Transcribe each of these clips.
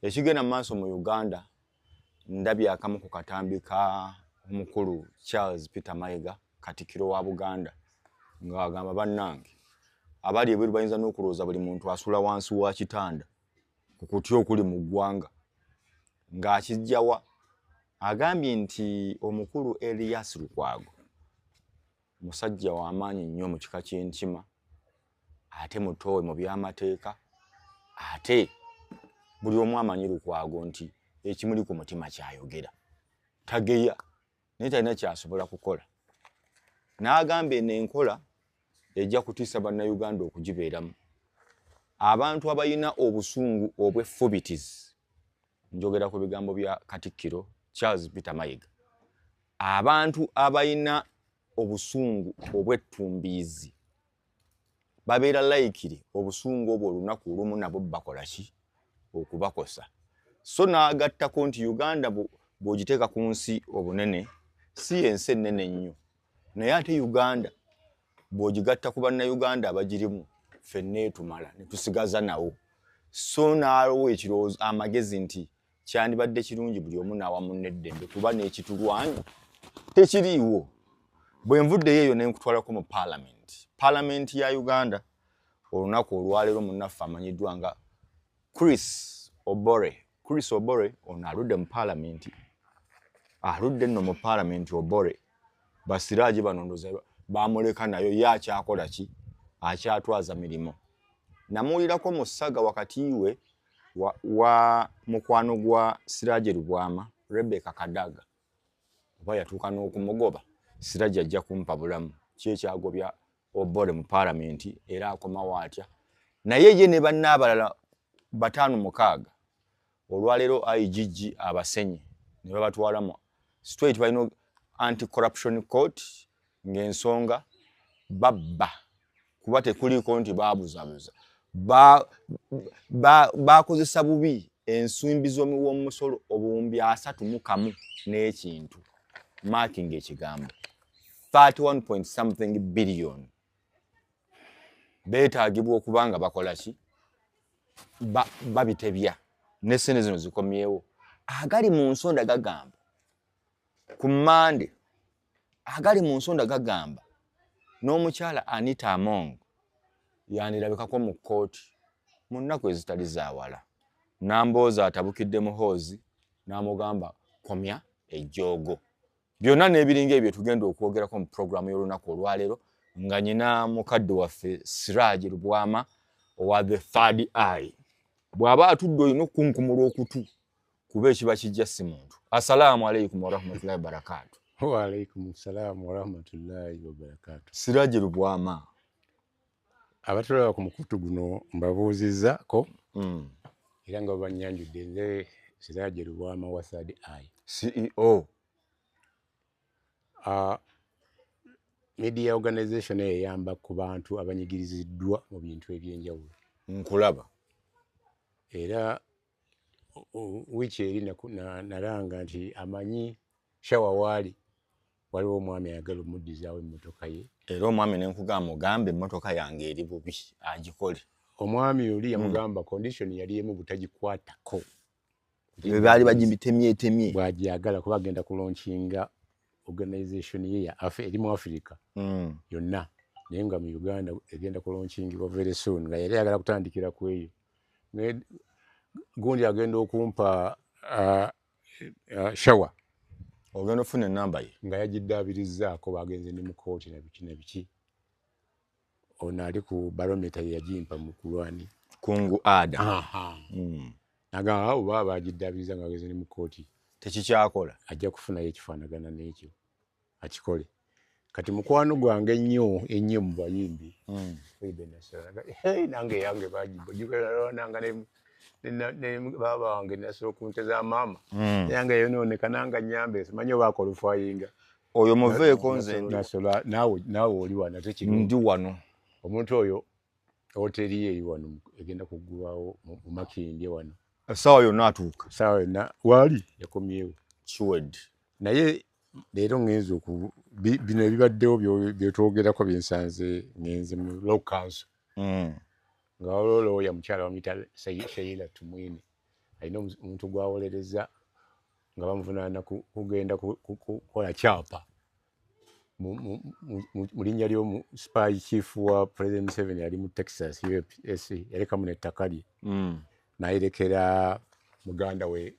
Ekigenda mu maaso mu Uganda ndabye akamu ku katambi ka omukulu Charles Peter Mayiga katikiro wa Buganda ng'agamba bannange abali ebweru bayinza n'okulowooza buli muntu asula wansi wa kitanda ku kutya okuli mu ggwanga ng'akijjawa agambye nti omukulu Elias Lukwago Musajja wa maanyi nnyo mu kika ky'Enkima ate mutoowe mu by'amateeka ate buli omu amanyi Lukwago nti ekimuli ku mutima kyayogera tageya naye talina kyasobola kukola n'agamba eno enkola ejja kutiisa bannayuganda okugibeeramu abantu abalina obusungu obw'effubitizi Njogera ku bigambo bya Katikkiro Charles Peter Mayiga. Abantu abalina obusungu obwettumbiizi babeera layikiri obusungu obwo olunaku olumu nabo bakola ki okubakosa so n'agattako nti uganda bw'ogiteeka ku nsi obunene si ensi ennene ennyo naye ate uganda bwogigatta ku bannayuganda abagirimu fenna etumala netusigaza nawo so naawo ekirowoozo amagezi nti kyandibadde kirungi buli omu naawa munneddembe kuba n'ekitulwanyi tekiriiwo bwe nvuddeyo eyo nenkutwalako mu paalamenti paalamenti ya uganda olunaku olwaleero munnaffe amanyiddwa nga chris obore chris obore ono aludde mu palamenti aludde nno mu palamenti obore basiraji banondoza bamuleka nayo ye akyakola ki akyatwaza mirimu namuwulirako mu ssaga wakati we wa, wa mukwano gwa siraje lubwama rebeka kadaga oba yatuuka n'okumugoba siraje ajja kumpa bulamu ki ekyagobya obore mu palamenti era akomawo atya naye ye ne banna abalala bataano mukaaga olwaleero igg abasenye ne babatwalamu straight balina anti corruption court ng'ensonga babba kuba tekuliiko nti baabuzabuza baakozesa ba, ba bubi ensimbi z'omuwomusolo obuwumbi asatu mu kamu n'ekintu maakinga ekigambo 31 point something billion beetagibwa okuba nga bakola ki babitebya ba nesente zino zikomyewo agali mu nsonda gagamba ku mande agali mu nsonda gagamba n'omukyala anita among yandirabikako mu kkooti mu nnaku ezitali zawala namboozi atabukidde muhoozi n'amugamba komya ejjoogo byonna n'ebiringa ebyo tugenda okwogerako mu pulogulaamu y'olunaku olwaleero nga nyina mukadde waffe siraji lubwama owa the third eye bw'aba atudde olina okukunkumula okutu kuba ekiba kijja si muntu assalaamu alaikum warahmatullahi wabarakatu waalaikum salaamu warahmatullahi wabarakatu siraji lubwama abatulaba ku mukutu guno mbabuuzizaako hmm. era nga babanyanjudde nze siraje lubwama wa third eye ceo uh, media organization eyo eyamba ku bantu abanyigiriziddwa mu bintu ebyenjawulo nkulaba era wiiki eri nalanga nti amanyi shawa waali waliwo omwami ayagala omuddizaawo emmotoka ye era omwami ne nkugamba ogamba emmotoka yange eri bubi agikole omwami oli hmm. yamugamba mm. condition yali emu butagikwatako baali bagitemyetemye bwagyagala kuba agenda kulonkinga organization ye ya afe eri mu africa mm. yonna naye nga mu uganda egenda kulonkingibwa very soon nga yali ayagala kutandikira ku eyo gundi agenda okumpa uh, uh, shawa ogenda ofuna enamba ye nga yagiddaabirizaako bagenze ne mu kooti nabiki nabiki ono ali ku barometa yeyagimpa mu kulwani kungu ada hmm. nagamba abo baba bagiddaabiriza nga bagenze ne mu kooti tekikyakola ajja kufunayo ekifaanagana n'ekyo akikole kati mukwano gwange ennyo ennyo mu bayimbi hmm. nange yange bagibogiananga baba wange nasula okunte za maama hmm. yange yononeka nanga nyambe simanyi oba akolufayinga oyo muveeko nze naawe oli wano tekiri ndi wano omuntu oyo Hotel ye eri wano egenda kuggulwawo mu Makindye wano. Essaawa yonna atuuka. Essaawa yonna waali yakomyewo. Kiwed. Naye leero ngenze oku bino ebibaddewo byetwogerako byensanze ngenze mu law council. Mm. Nga waliwo looya mukyala bamuyita Sheila Tumwine. Alina omuntu gwawolereza nga bamuvunaana kugenda kukola kyapa. mu linnya ly'omu spy chief wa president museven yali mu texas us yarekamu nettaka lye mm. nayerekera muganda we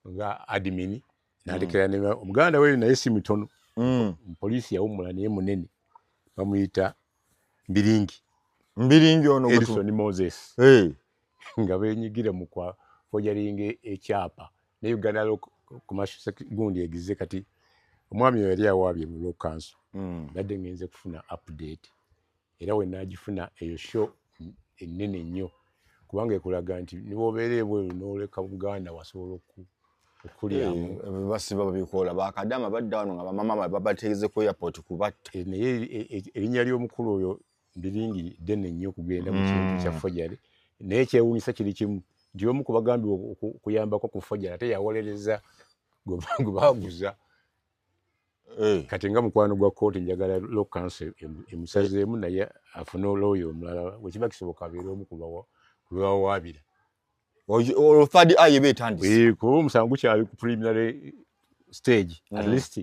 nga admin nalekera mm. ne omuganda we naye si mutono mm. poliisi yawummula naye munene bamuyita mbiringi mbiringi ono edison moses nga benyigira mu kwa fojaringa ekyapa ne uganda gundi egize kati omwami oyo yali awaabye mu lokanso hmm. nadde ngenze kufuna update era wenagifuna eyo show ennene nnyo kubanga ekulaga nti niwobeera ebweru noleka buganda wasobola oku basiba babikola bakadama badda wano nga bamama babategeze ku airport kubatta eh, naye eh, eh, erinnya ly'omukulu oyo ndiringi ddene nnyo okugenda mu kintu kya mm. fojale naye kyewuunyisa kiri kimu nti omu ku bagambibwa okuyambako ku fojale ate yawolereza gwe baguza eh. kati nga mukwano gwa kooti njagala law council emusazeemu naye afune olooya omulala wekiba kisoboka abeere omu kubawawaabira olwo third eye eba etandise kuba omusango gukyali ku preliminary stage mm. at least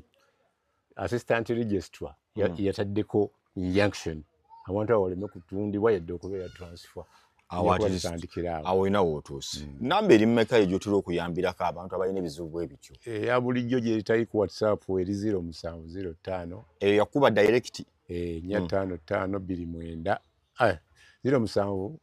assistant registrar mm. yataddeko injunction abantu abo baleme kutundibwa yadde okubeera transfer awo olina wootuuse mm. namba eri mumeka eyo gyotera okuyambirako abantu abalina ebizibu bwe bityo eya eh, bulijjo gyetali ku whatsapp eri ziro musanvu ziro ttaano eyo eh, yakuba direct eh, nya mm. ttaano ttaano bbiri mwenda ah, ziro musanvu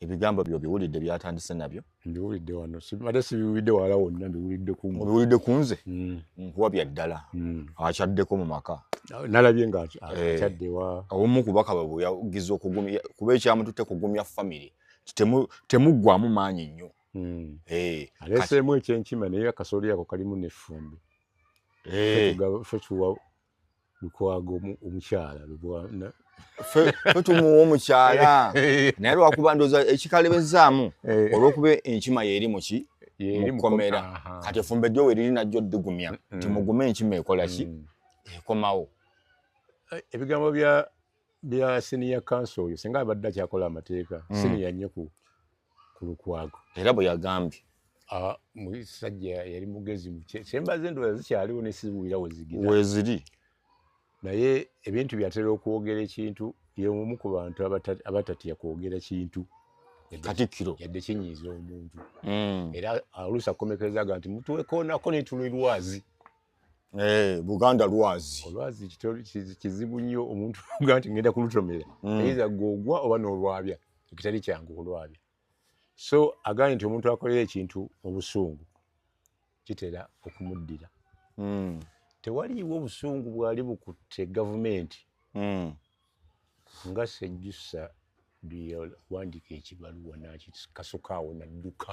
ebigambo byo biwulidde byatandise nabyo mbiwulidde wano ate sibiwulidde wala wonna mbiwulidde ku mbiwulidde ku nze mm. nkuwa bya ddala mm. akyaddeko mu maka nalabye nga eh, akyaddewa omu kubaka bwe yagiza okugumya kuba ekyamututte kugumya famiry temuggwamu maanyi nnyo mm. eh, aleeseemu ekyenkima naye akasooli ako kalimu nefumbi eh. fe kiwa lukwago omukyala lubwana fe tumuwa omukyala naye lwakuba ndoza ekikalebezaamu eh. olwokuba enkima yeeri muki mukomera kati efumba ejjo weriri najjo odigumya mm. timugume enkima ekolaki mm. ekomawo eh, ebigambo bya bya senior council oyo singa abadde akyakola amateeka mm. senior nnyo ku lukwago era bwe yagambye ah, musajja yali mugezi kyembaze endowooza zikyaliwo nesibuwira wezigira weziri naye ebintu byatera okwogera ekintu yeomu ku bantu abatatya kwogera kintu katikkiro yadde kinyiiza omuntu mm. era oluusi akomekerezaga nti mutuwekoonako netulwe lwazi Eh, buganda lwazi olwazi kizibu nnyo omuntu ga nti ngenda kulutomera mm. eiza gogwa oba nolwabya ekitali kyangu kulwabya so agambye nti omuntu akolera ekintu mu busungu kitera okumuddira mm. tewaliiwo obusungu bwali bukutte gavumenti mm. nga sejjusa byewandiika ekibaluwa nakikasukaawo nadduka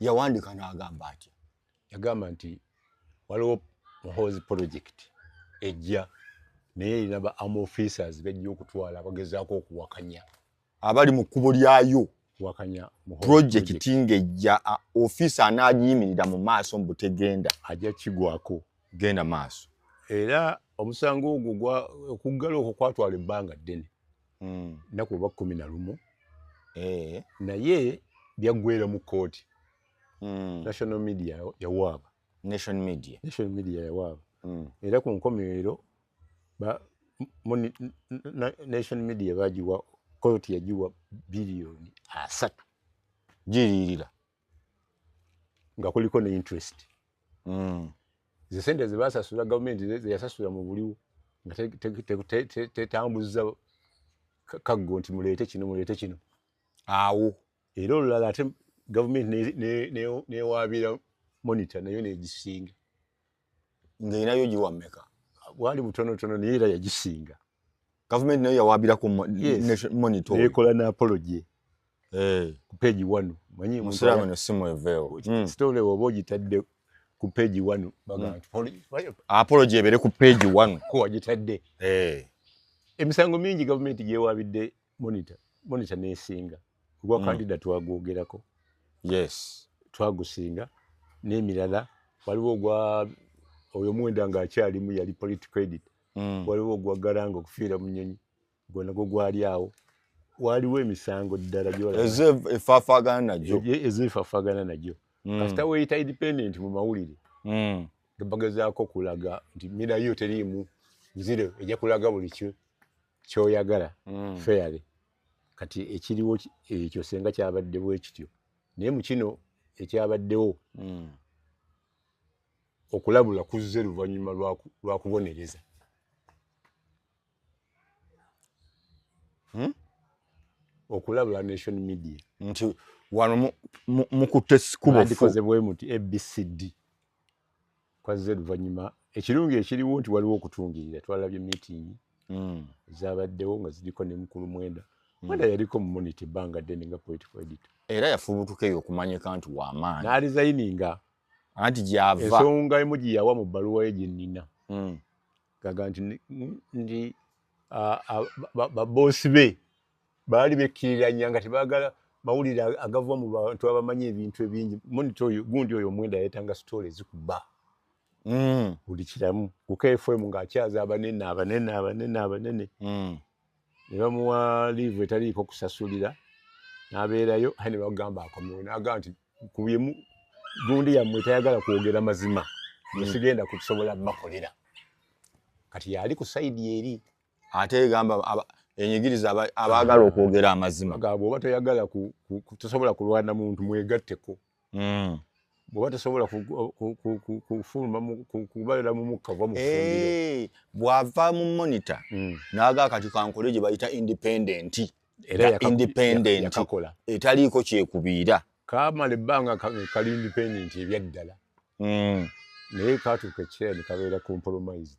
yawandika n'agamba atya yagamba nti waliwo muhoozi project ejja naye erina ba am officers bejja okutwala bagezaako okuwakanya abali mu kkubo lyayo wakanya project ngejja officer anaagiyimirira mu maaso mu butegenda ajja kigwako genda maaso era omusango ogwo okuggala okwo kwatwala ebbanga ddene mm. naku oba kumi na lumu eh. naye byaggwera mu kkooti mm. national media yawaaba nation media nation media yawaaba mm. era ku nkomerero nation media bagiwa kkooti yagiwa biliyoni asatu giririra nga kuliko ne interest mm. ze sente zebasasula gavumenti zeyasasula mu buliwo nga tetambuza kaggo nti muleete kino muleete kino awo era olulala ate gavumenti newaabira monita nayo negisinga nga erinayo giwa mmeka bwali butonotono naye era yagisinga gavumenti nayo yawabirako monitor ekola na apology eh. ku page one manyi musiramu no simu eveo hmm. story obo gitadde ku page one bagamba hmm. apology ebere ku page one ko wagitadde eh emisango mingi gavumenti gyewabidde monitor monitor nesinga ogwa mm. candida twagwogerako yes twagusinga n'emirala waliwo ogwa oyo mwenda ng'akyalimu yali political edit mm. waliwo ogwa garanga okufiira mu nyonyi gwanagwo gwali awo waliwo emisango ddala gyoefaafagana nagyo ezo efaafagana nagyo mm. kasita weyita independent mu mawulire mm. bagezaako kulaga nti mirayo teriimu nzire ejja kulaga buli kimu kyoyagala mm. fairly kati ekiriwo ekyo senga kyabadde bwekityo naye mukino ekyabaddewo mm. okulabula kuzze luvannyuma lwakubonereza hmm? okulabula nation media nti wano mukutte sikubofu abc kwazze luvannyuma ekirungi ekiriwo nti waliwo okutungirira twalabye meeting mm. zabaddewo nga ziriko ne mukulu mwenda mm. mwenda yaliko mu monity ebbanga ddene nga political editor era yafubutuka eyo okumanyika nti wamaanyi n'alizayininga anti gyava ensonga emu gye yawa mu bbaluwa ye gye nnina mm. gaga nti nti baboosi be baali bekkiriranya nga tebaagala mawulire agava mu bantu abamanyi ebintu ebingi monita oyo gundi oyo omwenda yayetanga sitoola ezikuba mm. buli kiramu ku kfm ng'akyaza abanene abanene abanene abanene mm. ne bamuwa liivu etaliiko kusasulira n'abeerayo aye ne bagamba akomewo n'agamba nti ku byemu gundi yammwe tayagala kwogera mazima mm. nesigenda kusobola bakolera kati yali ku saidi eri ate egamba enyigiriza abaagala okwogera amazima bwoba toyagala tosobola kulwana muntu mwegatteko hmm. bwoba tosobola kufuluma kubalira mu mukka va mufundiro bw'ava mu monita hmm. naaga akati kankole gye bayita independenti independenti etaliiko kyekubiira kamala ebbanga kali independenti ebyaddala hmm. naye katuuka ekiseera ne kabeera compromised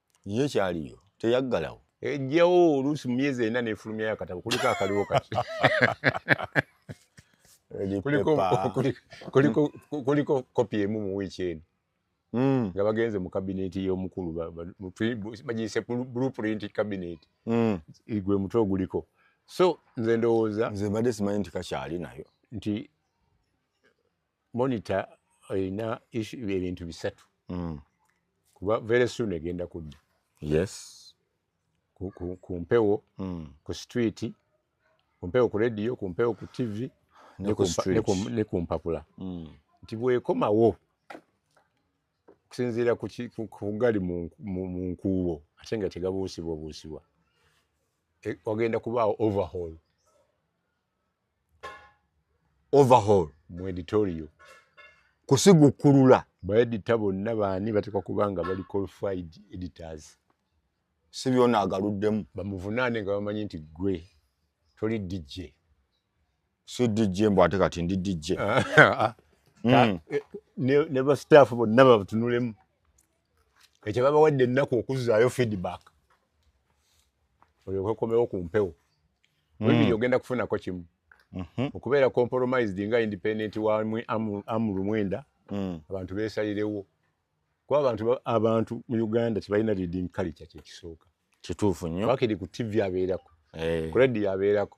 ye kyaliyo teyaggalawo ejjawo oluusi mu myezi ena nefulumyayo akatabo kuliko akaliwo kati kuliko kopi emu mu wiiki eno hmm. nga bagenze mu kabineeti y'omukulu bagiyise blueprint kabineeti hmm. gwe mutwe oguliko so nze ndowooza nze mbadde simanyi nti kakyali nayo nti monitor erina ebintu bisatu mm. kuba very soon egenda kudda yes ku mpewo mm. ku street ku mpewo ku radio ku mpewo ku tv ne ku mpapula mm. nti bwekomawo okusinziira kugali mu nkuubo ate nga tegabuusibwa buusibwa e, wagenda kubaawo overhaul overhaul mu editorio kusigukulula baedita bonna baani batekwa kuba nga bali qualified editors si byona agaluddemu bamuvunaane nga bamanyi nti gwe toli dj si dj mbu ate kati ndi dj ah, ah, ah. Hmm. Eh, ne bastaff bonna babatunulemu ekyo babawadde ennaku okuzzaayo feedback olyoke okomewo ku mpewo webiri mm. ogenda kufunako kimu mhm. okubeera compromised nga independent wa amuru mwenda mm. abantu besalirewo kuba abantu abantu mu uganda tebalina reading culture kyekisooka kituufu nnyo bakiri ku tv abeerako eh. ku radio abeerako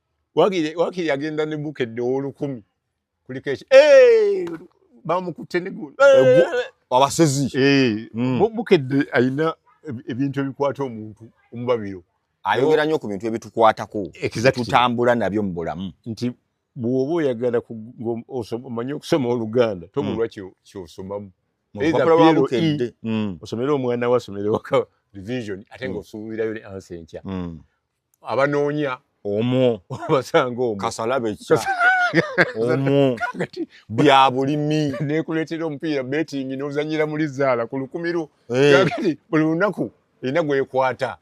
wagire wakiri agenda ne bukedde owolukumi kuliko eki eh, bamukutte negulu abasezi eh, mm. bukedde alina ebintu ebikwata omuntu omubabiro ayogera nnyo ku bintu ebitukwatako tutambula nabyo mu bulamu nti bwoba oyagala omanye okusoma oluganda tomulwa mm. kyosomamu e, mm. osomere omwana we asomere waka revision ate ngaosuubirayo ne ansa enkya abanoonya omwo basanga omwo kasalabe kya omwo bya bulimi nekuleetera omupiira betingi n'ozanyira muli zaala ku lukumi lwo eh. kati buli lunaku erina gwekwata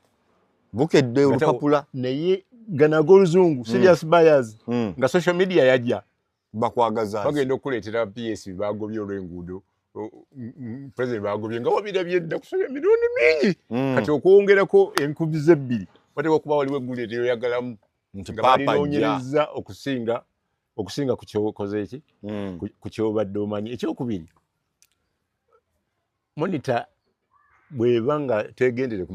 bukedde olupapula naye ganaga oluzungu hmm. serious buyers hmm. nga social media yajja bakwagaza bagenda okukuleetera ps bagobye olw'enguudo president bagobye nga wabirabye dda kusabya emirundi mingi mm. kati okwongerako enkubi zebbiri wateeka okuba waliwo eggulire teyoyagalamu nga balinoonyereza okusinga okusinga ku kyokoze eki mm. ku kyobadde omanyi ekyokubiri monita bweba nga tegendere